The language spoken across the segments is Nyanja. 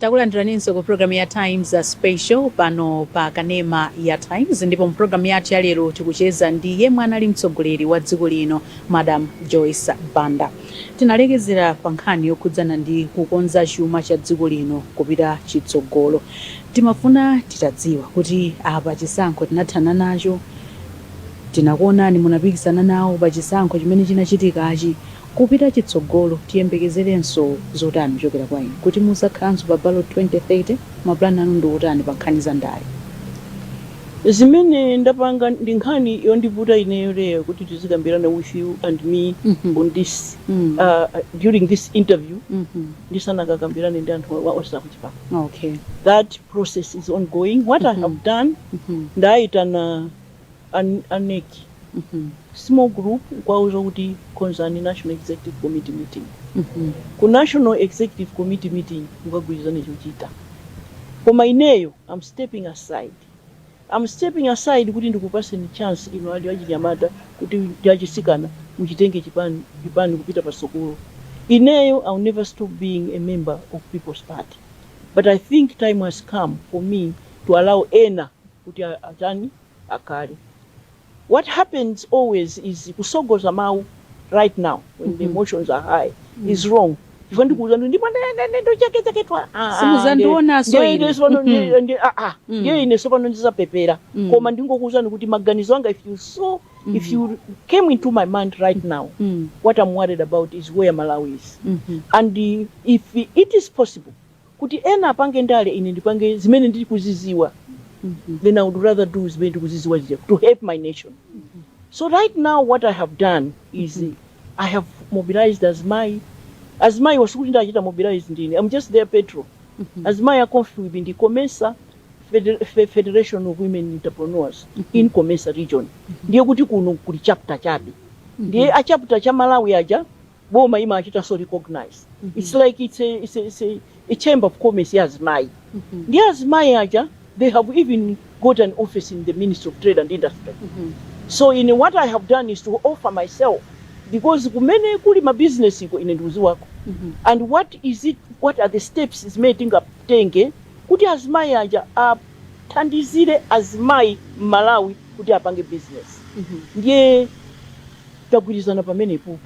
Takulandiraninso ku pulogalamu ya Times Special pano pa Kanema ya Times ndipo mu pulogalamu yathu ya lero tikucheza ndi yemwe anali mtsogoleri wa dziko lino Madam Joyce Banda. Tinalekezera pa nkhani yokhudzana ndi kukonza chuma cha dziko lino kupita chitsogolo. Timafuna titadziwa kuti apa chisankho tinathana nacho, tinakuonani munapikisana nawo pa chisankho chimene chinachitikachi, Kupita chitsogolo, tiyembekezerenso zotani kuchokera kwa inu? Kuti muzakhalanso pa ballot 2030? Mapulani anu ndi otani pa nkhani za ndale? Zimene ndapanga ndi nkhani yondivuta ineyo lero kuti tizikambirana with you and me on this during this interview ndisanakakambirane ndi anthu onse akuchipani that process is ongoing what I have done ndaitana a nec small group nkuwauza kuti konzani national executive committee meeting ku national executive committee meeting mukagwirizane chochita koma ineyo I'm stepping aside I'm stepping aside kuti ndikupaseni chance inu ali achinyamata kuti ndi achisikana muchitenge chipani kupita patsogolo ineyo I'll never stop being a member of people's party but i think time has come for me to allow ena kuti atani akale what happens always is kusogoza mawu right now when the emotions are high is wrong chifukwa ndikuuza ndi ndipo ndochekachekedwa Simuzandionanso ine. Mm. ndiye ine sopano ndizapepera Mm. koma ndingokuuzani kuti maganizo anga if you saw if you came into my mind right now Mm, what i'm worried about is where malawi is mhm, and uh, if it is possible Kuti ena apange ndale ine ndipange zimene ndikuziziwa then I would rather do zimene ndikuziziwa zija to help my nation. So right now what I have done is I have mobilized azimayi. Azimayiwa sikuti ndachita mobilize ndine, I'm just their patron. Azimayi a COMFWB ndi Comesa Fede- Fe- Federation of Women Entrepreneurs in Comesa region. Ndiye kuti kuno kuli chapter chabe. Ndiye a chapter cha Malawi aja boma imawachitanso recognize it's like it's a, it's a, it's a, a chamber of commerce ya azimayi ndiye azimayi aja they have even got an office in the ministry of trade and industry so ine what i have done is to offer myself because kumene kuli mabizinesi iko ine ndikuziwako and what is it what are the steps zimene tingatenge kuti azimayi aja athandizire azimayi m'malawi kuti apange business ndiye tagwirizana pamenepopo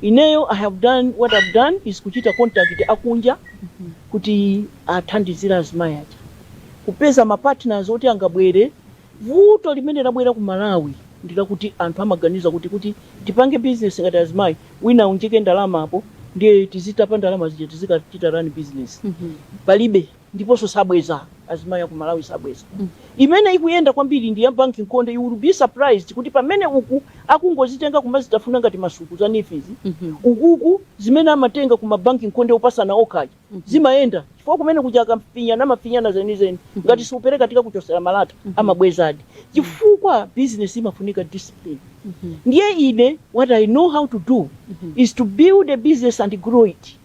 ineyo i have done what i've done is kuchita contact akunja kuti athandizire azimayi aja kupeza ma partners oti angabwere vuto limene labwera ku malawi ndilakuti anthu amaganiza kuti kuti tipange business ngati azimayi wina aunjike ndalama apo ndiye tizitapa ndalama zija tizikachita run business palibe ndiponso sabweza azimayi aku malawi sabweza imene ikuyenda kwambiri ndi ya bank nkhonde you will be surprised kuti pamene uku akungozitenga kumazitafuna ngati masuku za NEEF-zi ukuku zimene amatenga ku ma bank nkhonde opasana okhaja zimayenda chifukwa kumene kuja akafinyana amafinyana zenizeni ngati siupereka tikakuchotsera malata amabwezadi chifukwa business imafunika discipline ndiye ine what i know how to do is to build a business and grow it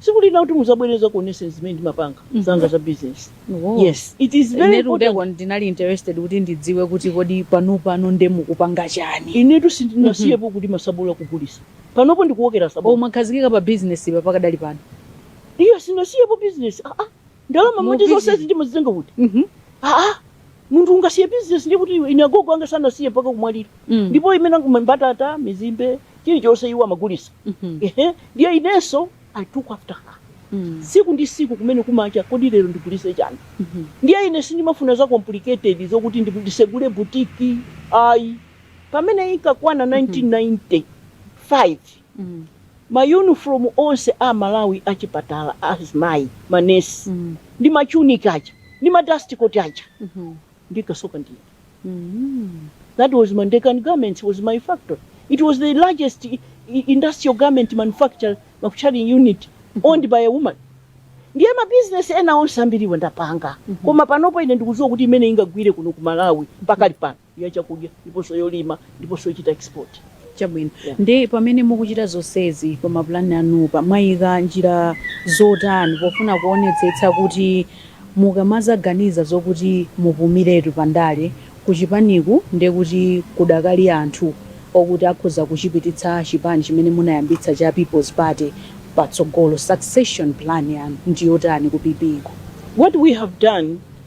tsiku lina kuti muzabwere ndizakuoneseni zimene ndimapanga zanga za business Oh. yes it is very important kuteroko ndinali interested kuti ndidziwe kuti kodi pano pano nde mukupanga chani inetu sindinasiyepo kuti ma tsabola akugulisa panopo ndikuwokera tsabola mwakhazikika pa business pa pakadali pano ayi sinasiyepo business ah, ah. ndalama moti zonsezi ndimazitenga kuti Mhm. aa munthu ungasiye bizinesi ndi kuti ine agogo anga sanasiye mpaka kumwalira Mm. ndipo imene chinangwa mbatata mizimbe chilichonse iwo amagulisa Mhm. ehe ndiye inenso i took after her Mm. siku ndi siku kumene kumacha kodi lero ndigulise chani Mhm. ndiye ine sindimafuna za complicated zokuti ndi- ndisegule butiki ayi pamene inkakwana 1995 ma uniform onse a Malawi a chipatala a azimayi ma nurse ndi ma tunic aja ndi ma dust coat aja ndinkasoka ndine that was Ndekani Garments was my factory it was the largest industrial garment manufacturing unit owned by a woman ndiye ma business ena onse ambiriwa ndapanga koma panopo ine ndikudziwa kuti imene ingagwire kuno ku Malawi pakali pano ya chakudya ndiponso yolima ndiponso yochita export. Chabwino. Yeah. Nde pamene mukuchita zonsezi pa mapulani anupa mwayika njira zotani pofuna kuonetsetsa kuti mukamadzaganiza zokuti mupumiretu pa ndale kuchipaniku ndiye kuti kudakali anthu okuti akhoza kuchipititsa chipani chimene munayambitsa cha People's Party patsogolo. Succession plan yanu ndiyotani ku PP ku? What we have done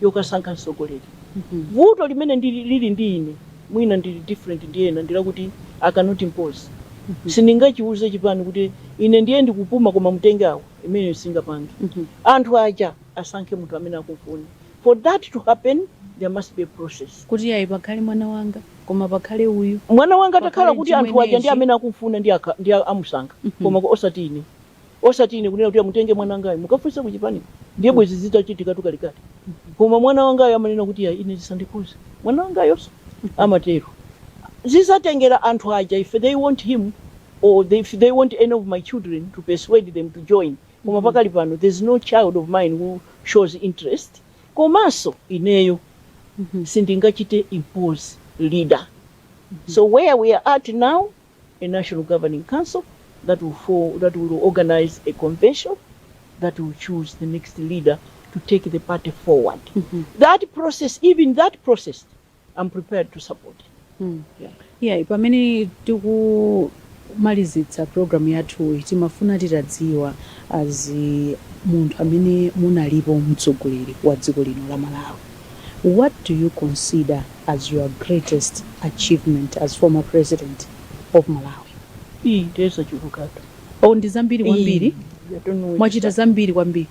yokasankha mtsogoleri. Vuto limene lili ndi ine mwina ndili different ndi ena ndi lakuti I cannot impose. Sindingachiuze chipani kuti ine ndiye ndikupuma koma mutenge awo, imeneyo singapange. Anthu aja asankhe munthu amene akumfuna. For that to happen there must be a process. Kuti ayi pakhale mwana wanga koma pakhale uyu. Mwana wanga atakhala kuti anthu aja ndi amene akumfuna nde amusankha koma osati ine. Osati ine kunena kuti amutenge mwana wangayo mukafunse ku chipaniko ndiye mm. bwezi zitachitikatu kalekale mm -hmm. koma mwana wangayo amanena kuti yayi ine zisandikhuze mwana wangayonso mm -hmm. amatero zizatengera anthu aja if they want him or they, if they want any of my children to persuade them to join koma mm. pakali pano there's no child of mine who shows interest komanso ineyo mm -hmm. sindingachite impose leader mm -hmm. so where we are at now a national governing council that will form, that will organize a convention that will choose the next leader to take the party forward. Mm -hmm. That process, even that process, I'm prepared to support. Mm. Yeah. Yeah, pamene tiku malizitsa program yathu timafuna titadziwa as munthu amene munalipo mtsogoleri wa dziko lino la Malawi what do you consider as your greatest achievement as former president of Malawi? Ii ndiye zachulukatu. Oh, ndi zambiri kwambiri. Mwachita zambiri kwambiri.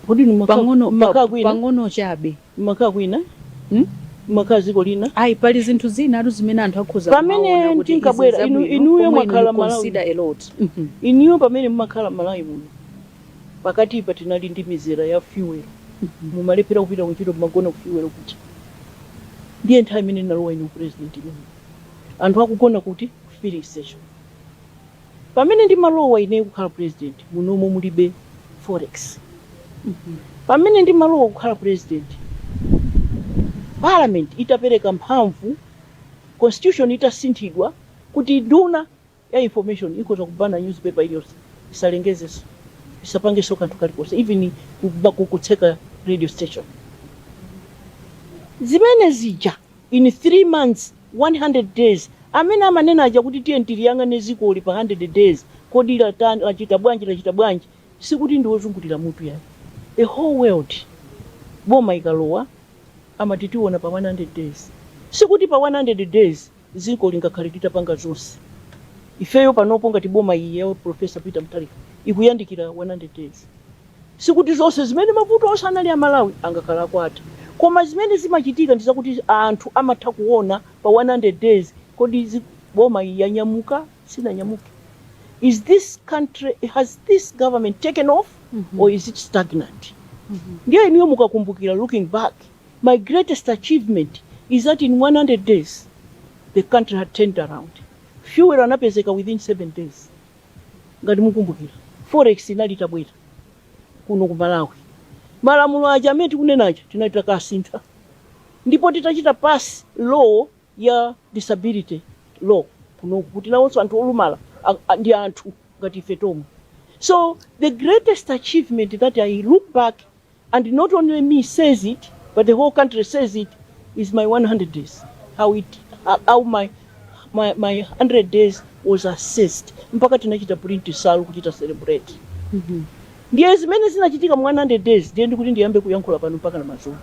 Kodi ndi pang'ono maka kwina? Pang'ono chabe. Maka kwina? Hmm? Mumakhala dziko lina? Ayi, pali zinthu zinatu zimene anthu akhoza kumaona kuti izi zabwino. Pamene tinkabwera, inu, inuyo mumakhala Malawi. Consider a lot. Mm -hmm. Inuyo pamene mumakhala Malawi muno. Pakatipa tinali ndi mizera ya fuel. Mumalephera kupita kuntchito mmagona ku fuel kuti. Ndiye nthawi imene ndinalowa ine u president imeneyo. Anthu akugona kuti? Ku filling station. Pamene ndimalowa ineyo kukhala president munomo mulibe forex. Pamene ndimalowa kukhala president parliament itapereka mphamvu constitution itasinthidwa kuti nduna. ya information ikhoza kubana newspaper iliyonse osalengezanso osapanganso kanthu kalikonse even kuba- ku- kutseka radio station zimene zija in 3 months 100 days amene amanena aja kuti tiye tiliyang'ane dzikoli pa 100 days kodi latani lachita bwanji lachita bwanji sikuti ndi wozungulira mutu yayi the whole world boma ikalowa amati tiona pa 100 days sikuti pa 100 days Dziko lingakhale litapanga zonse. Ifeyo panopo ngati boma iyi ya Prof. Peter Mutharika ikuyandikira 100 days. Sikuti zonse zimene mavuto onse anali a Malawi angakhale atatha. Koma zimene zimachitika ndi zakuti anthu amatha kuona pa 100 days kodi boma iyi yanyamuka, sinanyamuke? Is this country, has this government taken off or is it stagnant? Ndiye inuyo mukakumbukira looking back My greatest achievement is that in 100 days the country had turned around. Fuel anapezeka within 7 days. Ngati mukumbukira, forex inali itabwera kuno ku Malawi. Malamulo aja amene tikunena aja tinali takasintha. Ndipo titachita pass law ya disability law kuno kuti nawonso anthu olumala a- a- ndi anthu ngati ife tomwe. So the greatest achievement that I look back And not only me says it but the whole country says it is my 100 days how it how my my, my 100 days was assessed mpaka tinachita print nsalu kuchita celebrate ndiye zimene zinachitika mu 100 days ndiye nditati ndiyambe kuyankhula pano mpaka na madzulo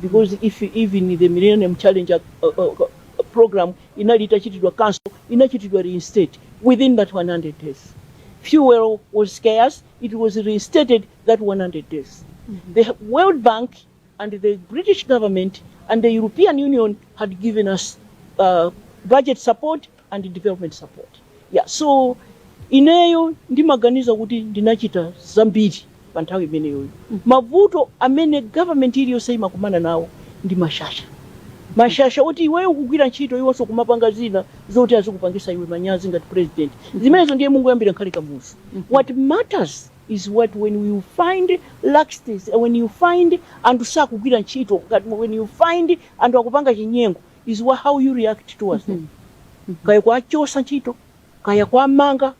because if even the millennium challenge uh, uh, uh, program inali itachitidwa cancel inachitidwa reinstate within that 100 days fuel was scarce it was reinstated that 100 days. The World Bank and the British government and the European Union had given us uh, budget support and development support. Yeah, so ineyo ndimaganiza kuti ndinachita zambiri pa nthawi imeneyoyo. Mavuto amene government iliyonse imakumana nawo ndi mashasha. mashasha oti iweyo ukugwira ntchito iwonso kumapanga zina zoti azikupangisa iwe manyazi ngati president zimenezo ndiye mungoyambira nkale Kamuzu what matters is what when you find laxities and when you find anthu sakugwira ntchito when you find anthu akupanga chinyengo is wha- how you react towards them kaya kuwachosa ntchito kaya kuwamanga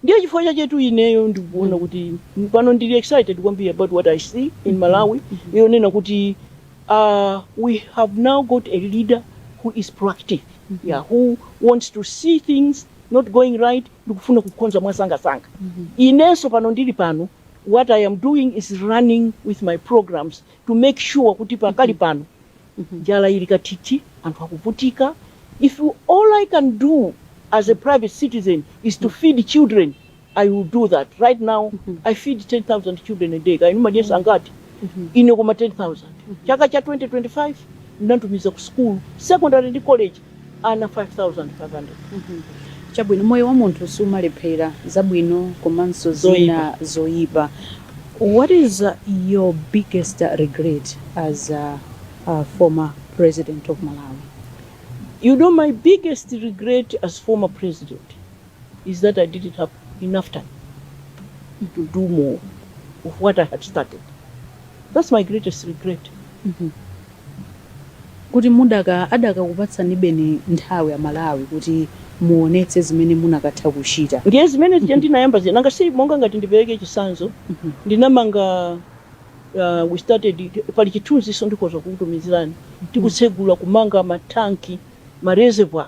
ndiye chifukwa chake tu ineyo ndikuona kuti pano ndili excited kwambiri about what i see in malawi yonena kuti uh, we have now got a leader who is proactive yeah, who wants to see things not going right ndi kufuna kukonza mwasangasanga inenso pano ndili pano what i am doing is running with my programs to make sure kuti pakali pano njala ili katiti anthu akuvutika if all i can do as a private citizen is to feed children i will do that right now i feed 10000 children a day kaya inu mumadyesa angati ine koma 10000 chaka cha 2025 ndinatumiza ku school secondary ndi college ana 5500 chabwino moyo wa munthu sumalephera zabwino komanso zina zoyipa what is uh, your biggest uh, regret as a, a former president of malawi You know, my biggest regret as former president is that I didn't have enough time to do more of what I had started. That's my greatest regret. kuti muda adakakupatsani beni nthawi amalawi kuti muonetse zimene munakatha kuchita ndiye zimene zija ndinayamba zina nanga si monga ngati ndipereke chisanzo ndinamanga uh, we started pali chithunziso ndikhoza kukutumizirani tikutsegula kumanga matanki ma reservoir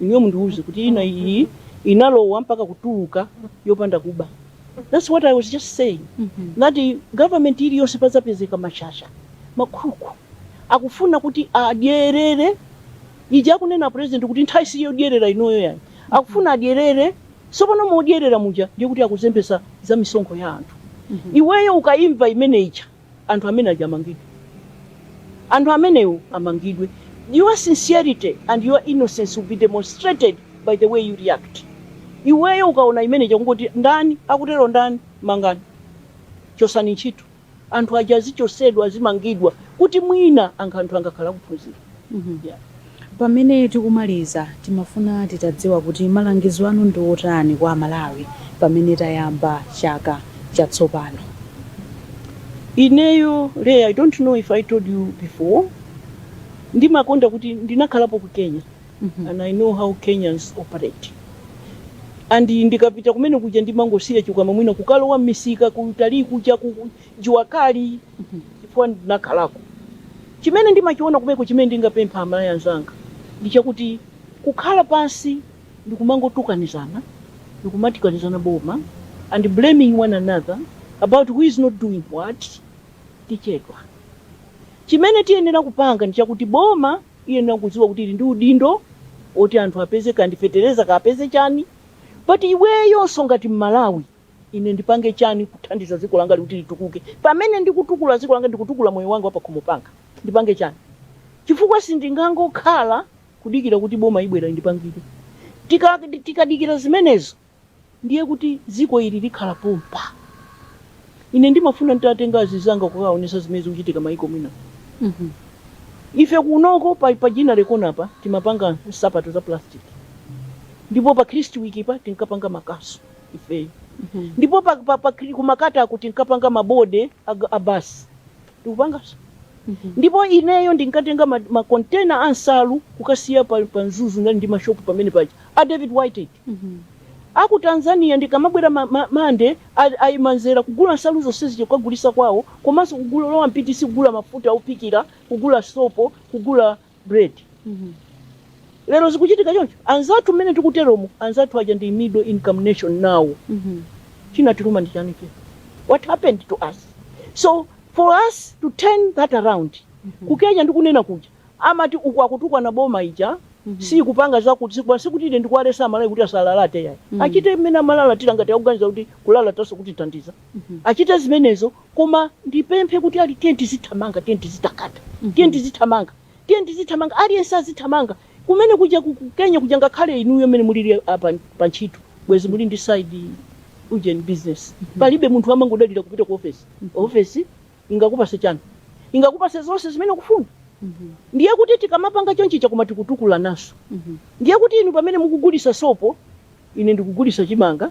inuyo mundiuze kuti ina iyi inalowa mpaka kutuluka yopanda kuba that's what i was just saying that government iliyonse pazapezeka mashasha makuku akufuna kuti adyerere ija akunena a president kuti nthawi siyodyerera inoyo yani akufuna adyerere sopano modyerera muja ndi kuti akuzembesa za misonkho ya anthu iweyo ukaimva imene ija anthu amene aja amangidwe anthu amenewo amangidwe your sincerity and your innocence will be demonstrated by the way you react iweyo ukaona imene cha kungoti ndani akutero ndani mangani chosani ntchito anthu aja azichosedwa azimangidwa kuti mwina ena anthu angakhale akuphunzira Pamene tikumaliza, timafuna titadziwa kuti malangizo anu ndi otani kwa Amalawi pamene tayamba chaka chatsopano? Ineyo Leah, I don't know if I told you before, ndimakonda kuti ndinakhalapo ku Kenya and I know how Kenyans operate and ndikapita kumene kuja ndimangosiya chikwama mwina kukalowa m'misika kutali kuja ku Jua Kali chifukwa ndinakhalako. Chimene ndimachiona kumeneko chimene ndingapemphe Amalawi anzanga ndi chakuti kukhala pansi ndikumangotukanizana ndikumatukanizana boma and blaming one another about who is not doing what tichedwa. Chimene tiyenera kupanga ndi chakuti boma iyenera kudziwa kuti ili ndi udindo oti anthu apeze kaya ndi fetereza kaya apeze chani but iweyonso ngati mmalawi Ine ndipange chani kuthandiza dziko langali kuti litukuke pamene ndikutukula dziko langa ndikutukula moyo wanga wapakhomo panga ndipange chani chifukwa sindingangokhala kudikira kuti boma ibwere indipangire tika tikadikira zimenezo ndiye kuti dziko ili likhala pompa ine ndimafuna nditatenga azizanga kukaonesa zimene zikuchitika maiko ena ife kunoko pa, pa Ginnery Corner pa timapanga nsapato za plastic ndipo pa Kristwick pa tinkapanga makasu ifeyo ndipo pa, pa, pa, kri- ku Makata ko tinkapanga mabodi ag- a basi tikupangaso ndipo ineyo ndinkatenga ma- makontena a nsalu kukasiya pa, pa mzuzu ndinali ndi mashopu pamene paja a David Whitehead aku tanzania ndikamabwera ma- ma- mande a- aima mzere kugula nsalu zonse zija kukagulisa kwawo komanso kugula Robert Pitis kugula mafuta ophikira kugula sopo kugula bread lero zikuchitika choncho anzathu mmene tikuteromu anzathu aja ndi middle income nation now chinatiluma ndi chani chino what happened to us so for us to turn that around ku kenya ndikunena kuja amati uku akutukwana boma ija sikupanga zakuti sikupanga sikuti ine ndikuwaletsa amalawi kuti asalalate yayi achite mmene amalalatira ngati akuganiza kuti kulalataso kutithandiza achite zimenezo Koma ndipemphe kuti ali, tiyeni tizithamanga, tiyeni tizitakata, tiyeni tizithamanga, tiyeni tizithamanga, aliyense azithamanga. Kumene kuja ku ku Kenya kuja ngakhale inuyo mmene mulili apa pa ntchito bwezi muli ndi side ujeni business. Palibe munthu amangodalira kupita ku ofesi. Ofesi ingakupase chani? Ingakupase zonse zimene ukufuna. Ndiye kuti tikamapanga chonchija ndiye tikutukulananso. Ndiye kuti inu pamene mukugulisa sopo, ine ndikugulisa chimanga.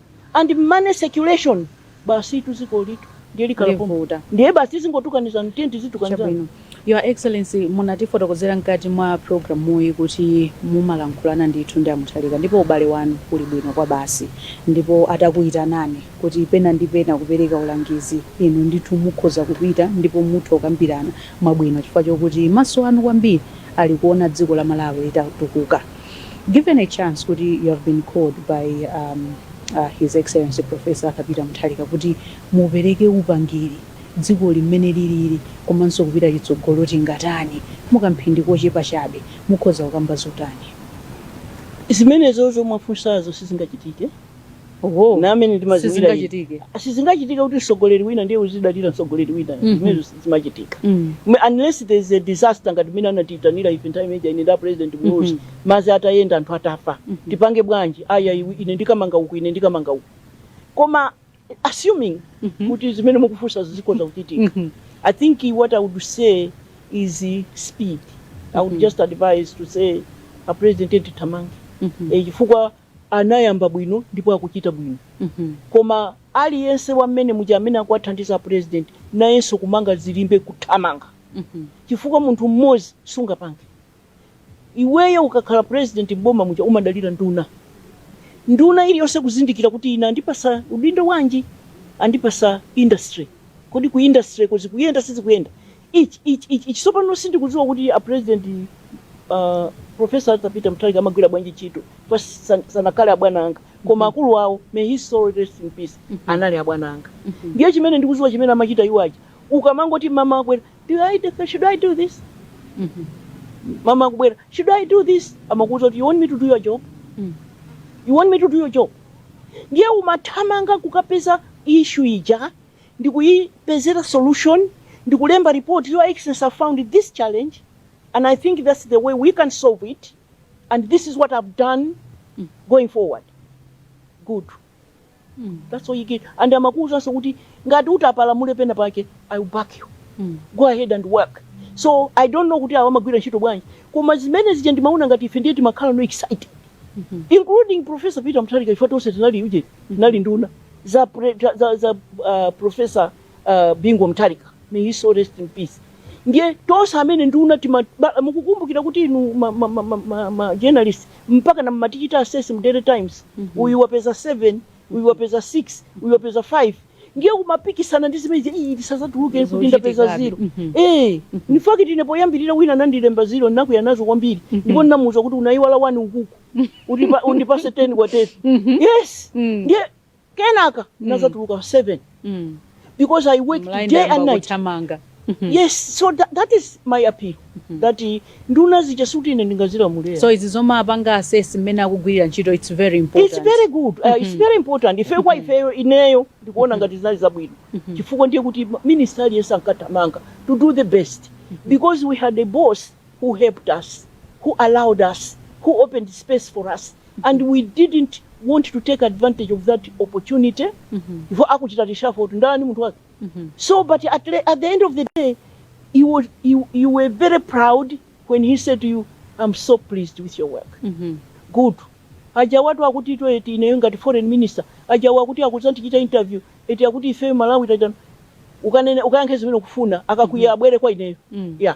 and money circulation basitu zikoli tu ndiye likhala pompo. Livuta. ndiye basi tizingotukanizana tiye tizitukanizana chabwino your excellency munatifotokozera mkati mwa programu iyi kuti mumalankhulana ndithu ndi amuthalika ndipo ubale wanu uli bwino kwabasi ndipo atakuyitanani kuti pena ndi pena kupereka ulangizi inu ndithu mukhoza kupita ndipo mutha kukambirana mwabwino chifukwa chokuti maso anu kwambiri ali kuwona dziko la malawi litatukuka Given a chance kuti you have been called by um, uh, His Excellency Professor Arthur Peter Mutharika kuti mupereke upangiri dzikoli mmene lilili komanso kupita chitsogolo tingatani mu kamphindi kochepa chabe mukhoza kukamba zotani? Zimenezozo mwafunsazo sizingachitike Oho. ndi mmene ndimadziwira Sizingachitike. sizingachitike kuti mtsogoleri wina ndiye uzidalira mtsogoleri wina Mhm. zimene zimachitika Mm. Mwe- unless there is a disaster ngati mmene anatiitanira ife nthawi ija ine ndi a president Muluzi Mhm. madzi atayenda anthu atafa Mhm. tipange bwanji aya iwe ine ndikamanga uku ine ndikamanga uku koma assuming Mhm. kuti zimene mukufunsa zikhoza kuchitika Mhm. i think what i would say is uh, speed i would Mhm. just advise to say a president tithamange Mhm. Eh, chifukwa anayamba bwino ndipo akuchita bwino koma aliyense wa mmenemuja amene akuwathandiza apulezidenti nayenso kumanga zilimbe kuthamanga chifukwa munthu mmodzi sungapange iweyo ukakhala pulezidenti m'boma muja umadalira nduna nduna iliyonse kuzindikira kuti ine andipasa udindo wanji andipasa industry kodi ku industry-ko zikuyenda sizikuyenda Ichi, ichi, ichi, ichi, tsopano sindikudziwa kuti a president uh, Professor Arthur Peter Mutharika amagwira bwanji ntchito koma san- sanakhale abwana anga koma akulu awo may his soul rest in peace anali abwana anga ndiye chimene ndikudziwa chimene amachita iwo aja ukamangoti mama abwera do I do, should I do this mama akubwera should I do this amakuuza kuti you want me to do your job you want me to do your job ndiye umathamanga kukapeza issue ija ndikuyipezera solution ndikulemba report your excellency I've found this challenge and i think thats the way we can solve it and this is what i've done going forward good that's all you get and amakuwuzanso kuti ngati utapalamula pena pake i will back you go ahead and work so i don't know kuti awa amagwira ntchito bwanji koma zimene zija ndimaona ngati ife ndiye timakhala no excited including professor peter mutharika ife tonse tinali uje tinali nduna za, pre, za, za uh, profesa uh, Bingu Mutharika may his soul rest in peace ndiye tonse amene nduna tima ba- mukukumbukira kuti inu ma, ma, ma, ma, ma, ma journalist mpaka na mmatichita assess mu daily times uyu wapeza 7 uyu wapeza 6 uyu wapeza 5 ndiye kumapikisana ndi zimenezi tisazatuluke kuti Zochitika ndapeza abi. zero Mhm. eh in fact ine poyambirira wina anandilemba zero ndinakuya nazo kwambiri ndipo ndinamuuza kuti unayiwala one ukuku Undipa- undipatse 10 kwa 10 Mhm. yes Mm. ndiye kenaka nazatuluka 7 Mm. because i work day and night Mhm. yes so that, that is my appeal that uh, nduna zija sikuti ine ndingazilamulira so izi zomwe apanga assess mmene akugwirira ntchito its very important it's very good uh, it's very important ife kwa ifeyo ineyo ndikuona ngati zinali zabwino chifukwa ndiye kuti minister aliyense ankathamanga to do the best because we had a boss who helped us, who allowed us, who opened space for us and we didn't want to take advantage of that opportunity before akuchita reshuffle kuti ndani munthu wake so but at, le- at the end of the day you, were- you, you were very proud when he said to you i'm so pleased with your work good aja wathu akuti ito eti ineyo ngati foreign minister aja wakuti akudzandichita interview eti akuti ifeyo malawi tachitano ukanene ukayankhe zimene ukufuna akakwiya abwere kwa ineyo Mm. yeah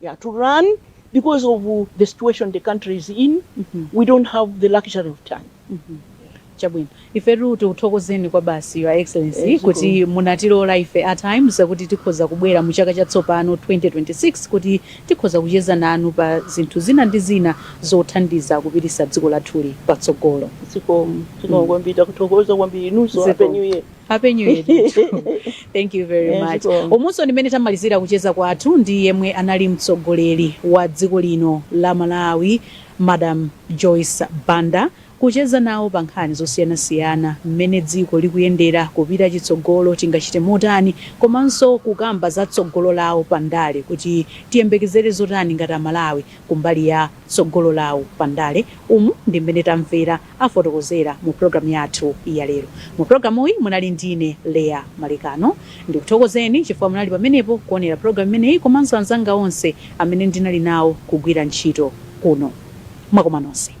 yeah, to run because of the situation the country is in mm -hmm. we don't have the luxury of time mm -hmm. chabwino ifetu tikuthokozeni kwa basi your excellency yes, eh, kuti munatilola ife at times kuti tikhoza kubwera mu chaka chatsopano 2026 kuti tikhoza kucheza nanu pa zinthu zina ndi zina zothandiza kupititsa dziko lathuli patsogolo zikomo zikomo mm. kwambiri takuthokoza kwambiri inunso happy new year Happy New Year ndithu. Thank you very Eh, much. zikomo. Umunso ndi mmene tamalizira kucheza kwathu ndi yemwe anali mtsogoleri wa dziko lino la Malawi, Madam Joyce Banda kucheza nawo pa nkhani zosiyanasiyana mmene dziko likuyendera kupita chitsogolo tingachite motani komanso kukamba za tsogolo lawo pa ndale kuti tiyembekezere zotani ngati amalawi kumbali ya tsogolo lawo pa ndale umu ndi mmene tamvera afotokozera mu pulogalamu yathu ya lero. Mu pulogalamuyi munali ndine Leah Malekano. Ndikuthokozeni chifukwa munali pamenepo kuonera pulogalamu imeneyi komanso anzanga onse amene ndinali nawo kugwira ntchito kuno. Mwakoma nonse.